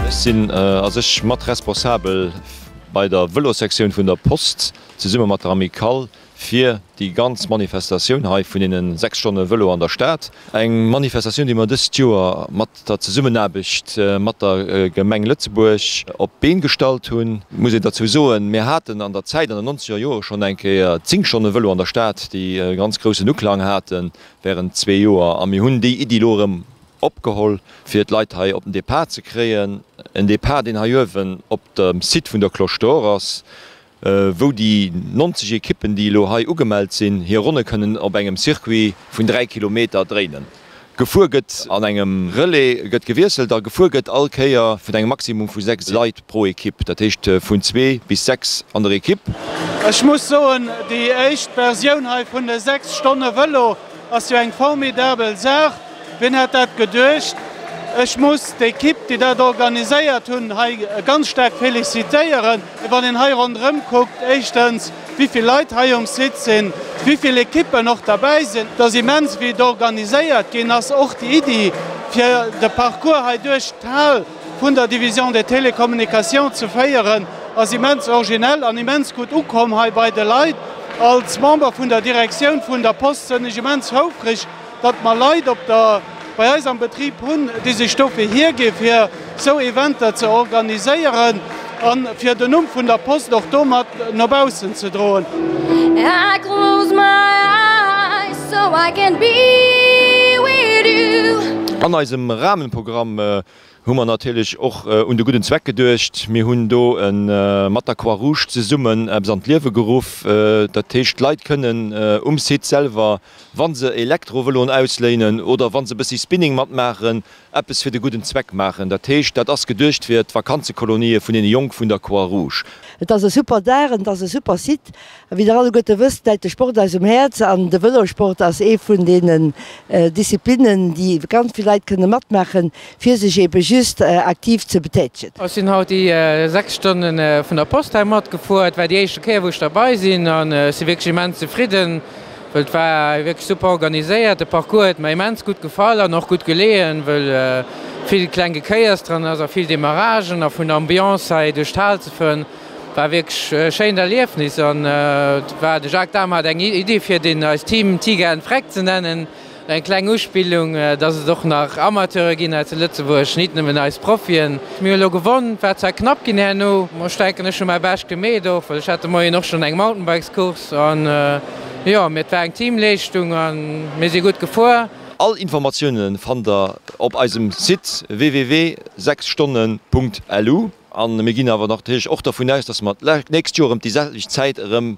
Ech sinn a sech mat responsabel bei der Vëlossektioun vun der Post, zesumme mat der Amicale, fir déi ganz Manifestatioun hei vun deenen 6 Stonne Vëlo an der Stad. Eng Manifestatioun, déi mer dëst Joer mat der Zesummenaarbecht mat der Gemeng Lëtzebuerg op d'Been gestallt hunn. Et muss een derzou soen, mir haten an der Zäit, an den nonzeger Jore schonn eng Kéier 10 Stonne Vëlo an der Stad, déi e ganz groussen Uklang haten während zwee Joer. A mir hunn déi Iddi elo erëm opgeholl, fir d'Leit hei op den Depart ze kréien. En Depart, deen hei uewen op dem Site vun der Cloche d'Or ass, wou déi 90 Ekippen, déi elo hei ugemellt sinn, hir Ronne kënnen op engem Circuit vun 3 Kilometer dréinen. Gefuer gëtt an engem Relais, gëtt gewiesselt a gefuer gëtt all Kéier vun engem Maximum vu 6 Leit pro Ekipp, dat heescht vun zwee bis sechs an der Ekipp. Ech muss soen, déi éischt Versioun hei vun de sechs Stonne Vëlo ass jo eng formidabel Saach. Wien hätt dat geduecht? Ech muss d'Ekipp, déi dat organiséiert hunn, hei ganz staark felicitéieren. Wann een hei ronderëm kuckt, éischtens, wéi vill Leit hei um Site sinn, wéi vill Ekippen och derbäi sinn, et ass immens, wéi et organiséiert ginn ass. Och déi Iddi, fir de Parcours hei duerch d'Hal vun der Division des Télécommunications ze féieren, ass immens originell an immens gutt ukomm hei bei de Leit. Als Member vun der Direktioun vun der Post sinn ech immens houfreg, datt mer Leit op der bei eis am Betrib hunn, déi sech dofir hiergi fir esou Eventer ze organiséieren a fir den Numm vun der Post och do mat no baussen ze droen. An eisem Rahmenprogramm hu mer natierlech och un de gudden Zweck geduecht. Mir hunn do mat der Croix-Rouge zesummen eppes an d'Liewe geruff, dat heescht d'Leit kënnen um Site selwer, wann se Elektrovëloen ausléinen oder wann se e bëssi Spinning matmaachen, eppes fir de gudden Zweck maachen. Dat heescht, dat ass geduecht fir d'Vakanzekolonie vun deene Jonk vun der Croix Rouge. Et ass e super Dag an et ass e super Site. A wéi der alleguerte wësst, läit de Sport eis um Häerz an de Vëlosport ass ee vun deenen Disziplinnen, déi ganz vill Leit kënne matmaachen, fir sech eebe just aktiv ze betätegen. Ech sinn haut déi 6 Stonne vun der Post hei matgefuer. Et war déi éischte Kéier, wou ech derbei sinn an ech si wierklech immens zefridden. Well et war wierklech super organiséiert. De Parcours huet mer immens gutt gefall an och gutt geleeën, well vill kleng Gekéiers dran ass a vill Demaragen. A vun der Ambiance hei duerch d'Hal ze fueren, war wierklech e schéint Erliefnis. An et war, de Jacques Dahm hat eng Iddi fir deen eist Team Tiger and Freck ze nennen. Eng kleng Uspillung, dass et och nach Amateure ginn hei zu Lëtzebuerg, nit nëmmen eis Profien. Mir hu lo gewonn, war zwar knapp ginn herno, ma ech denken ech hu mäi Bescht gemeet och, well ech hat de Moien och schonn eng Mountainbikes-Course an jo, mee et war eng Teamleeschtung a mir si gutt gefuer. All Informatioune fannt der op eisem Site www.sechsstonne.lu. A mir ginn awer natierlech och dervun aus, dass mer d'nächst Joer ëm déi selwecht Zäit erëm